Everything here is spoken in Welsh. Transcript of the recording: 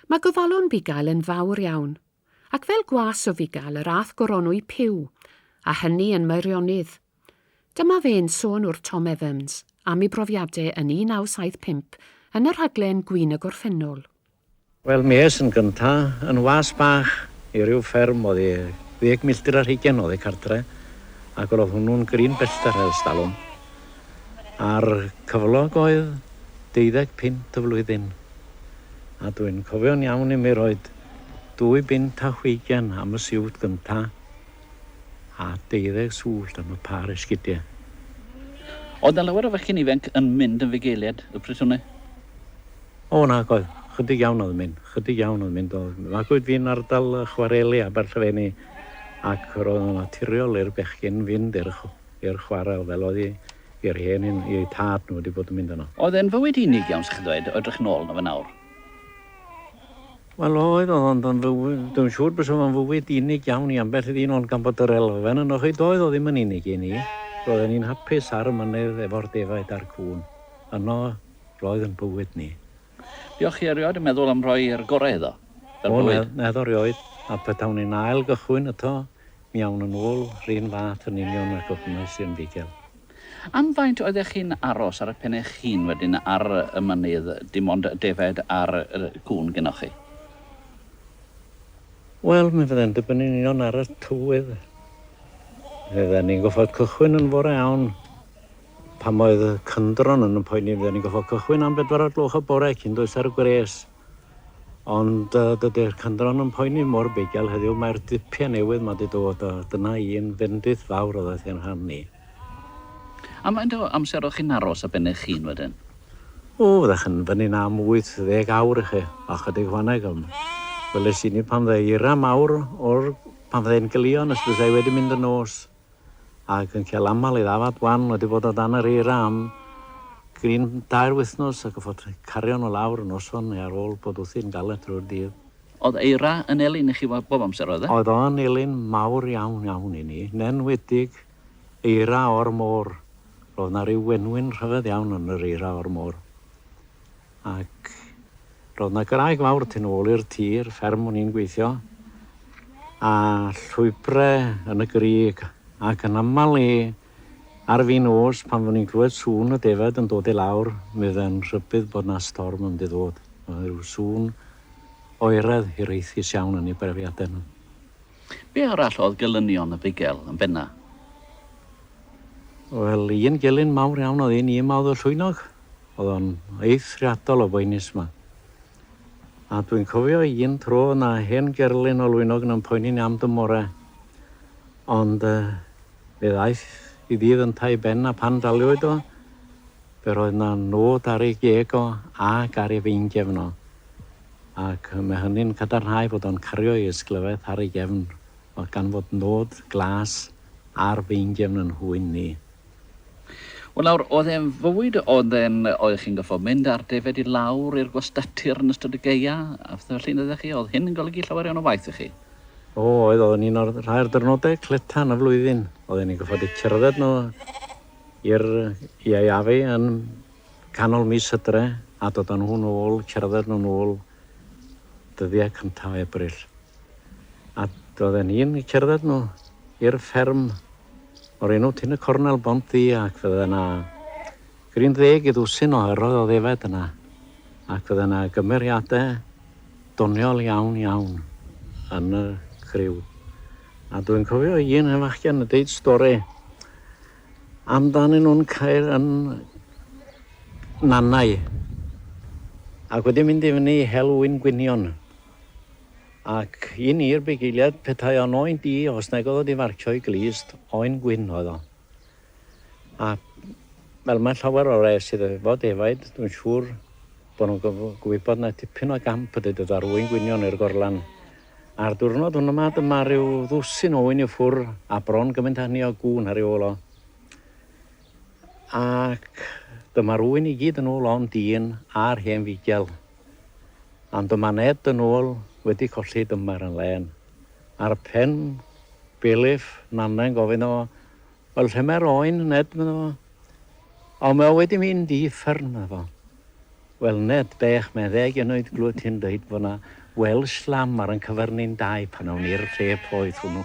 Mae gofalon bugail yn fawr iawn, ac fel gwas o fugail yr âth goronwy Puw, a hynny yn Meirionydd. Dyma fe'n sôn wrth Tom Evans am ei brofiade yn 1975 yn y rhaglen Gwin y Gorffennol. Wel, mi es yn gynta yn was bach i ryw fferm oddi ddeg milltir ar hugen oddi cartre, ac ro'dd hwnnw'n grin bellter ers talwm. a'r cyflog oedd deuddeg punt y flwyddyn, a dwi'n cofio'n iawn imi roid dwy bunt a hugain am y siwt gynta a deuddeg swllt am y pâr esgidie. Oedd 'na lawer o fechgyn ifainc yn mynd yn fugeiliaid y pryd hwnnw? O, nac oedd. Chydig iawn oedd yn mynd. Chydig iawn oedd yn mynd. Magwyd fi'n ardal chwareli Aberllefeni ac roedd o'n naturiol i'r bechgyn fynd i'r i'r chwarel fel oedd hi i'r hen un i eu tad nhw 'di bod yn mynd yno. Oedd e'n fywyd unig iawn 'sa chi'n ddweud, o edrych nôl arno fe nawr? Wel oedd, oedd ond yn fywyd, dwi'm yn siŵr bysa fo'n fywyd unig iawn i ambell ddyn ond gan bod yr elfen ynoch chi doedd o ddim yn unig i ni. Roedden ni'n hapus ar y mynydd efo'r defaid a'r cŵn. Yno roedd yn bywyd ni. Diolch chi erioed yn meddwl am roi yr gorau iddo? Fel bywyd? O na, na do rioed, a petawn i'n ail gychwyn eto Mi awn yn ôl 'run fath yn union ag ofnais i yn fuddugol. Am faint oeddech chi'n aros ar 'ych pen eich hun wedyn ar y mynydd, dim ond defaid a'r gŵn genoch chi? Wel, mi fydde'n dibynnu'n union ar y tywydd. Fydden ni'n gorfod cychwyn yn fore iawn. Pan oedd y cyndron yn 'y mhoeni i fydden ni'n gorfod cychwyn am bedwar o'r gloch y bore cyn dwys ar y gwres. Ond dydy'r cynddron yn poeni mor bugail heddiw, mae'r dipia newydd ma di dod a dyna un fendith fawr oddaeth gen rhan ni. Am faint o amser o'ch chi'n aros a ben eich hun wedyn? O, fyddech yn fyny'n am wyth ddeg awr i chi, a chydig fanneg, ond weles i ni pan fydde eira mawr o'r pan fydde e'n gylio nes byddai wedi mynd yn nos. ac yn cael aml ei ddafad wan wedi bod o dan yr eira am gryn dair wythnos ac yn fod rhaid cario nhw lawr y noson neu ar ôl bod wthi'n galed drwy'r dydd. Oedd eira yn elyn i chi bob amser oedd e? Oedd o yn elyn mawr iawn iawn i ni, yn enwedig eira o'r môr. Roedd 'na ryw wenwyn rhyfedd iawn yn yr eira o'r môr. Ac roedd 'na graig fawr tu nôl i'r tir, fferm o'n i'n gweithio, a llwybrau yn y grug, ac yn aml le ar fin nos pan fo' ni'n clywed sŵn y defaid yn dod i lawr, mi oedd e'n rhybudd bod 'na storm yn mynd i ddod. Oedd ryw sŵn oeraidd hiraethus iawn yn ei brofiadau nhw. Be' arall oedd gelynion y bugel yn benna? Wel, un gelyn mawr iawn oedd un un 'ma oedd y llwynog. Oedd o'n eithriadol o boenus 'ma. A dwi'n cofio un tro oedd 'na hen gerlin o Lwynog yn poeni ni am dymore. Ond fe ddaeth i ddydd yntau i ben a phan daliwyd o, fe roedd 'na nôd ar ei geg o ac ar ei feingefn o. Ac mae hynny'n cadarnhau fod o'n cario ei ysglyfaeth ar ei gefn o gan fod nôd glas ar feingefn yn nhwyn ni. Wel nawr, oedd e'n fywyd oedd e'n, oedd chi'n gorfod mynd ar defaid i lawr i'r gwastatir yn ystod y gaeau a phethe felly yn dyddiau chi, oedd hyn yn golygu llawer iawn o waith i chi? O oedd, oedd yn un o'r rhai'r dyrnodau cleta yn y flwyddyn, oedd e'n ni'n gorfod i cerdded nhw i'r iau afi yn canol mis hydre a dod â nhw'n ôl, cerdded nhw'n ôl dyddiau cyntaf o Ebrill. A oedd e'n ni'n cerdded nhw i'r fferm. O'r enw Tŷ y Cornel, Bont Ddu, ac fydde yna gryn ddeg i ddwsin o yrroedd o ddefaid yna, ac fydde yna gymeriadau doniol iawn, iawn yn y criw. A dwi'n cofio un hen fachgen yn deud stori amdanyn nhw'n cael yn nannau ac wedi mynd i fyny i hel wŷn gwynion. Ac i ni'r bugeiliaid, petai o'n oen di, os nag oedd o di farcio i glust, oen gwyn oedd o. A fel mae llawer o res sydd efo defaid, dwi'n siŵr bod nhw'n gwybod na tipyn o gamp ydy dod ar oen gwynion i'r gorlan. A'r diwrnod hwn yma, dyma rhyw ddwsin oen i ffwr a bron gymaint â hynny o gŵn ar ei ôl o. Ac dyma'r oen i gyd yn ôl o'n dyn a'r hen figel. Ond y mae Ned yn ôl wedi colli dymar yn lên. Ar pen belyff Nanna'n gofyn o, Wel lle mae'r oen, Ned? medda fo. O, mae o wedi mynd i uffern, medda fo. Wel, Ned, bech, meddeg yn oed glywed ti'n dweud bod na Welsh lamb ar yn cyfer ni'n dau pan awn ni'r lle poeth hwnnw.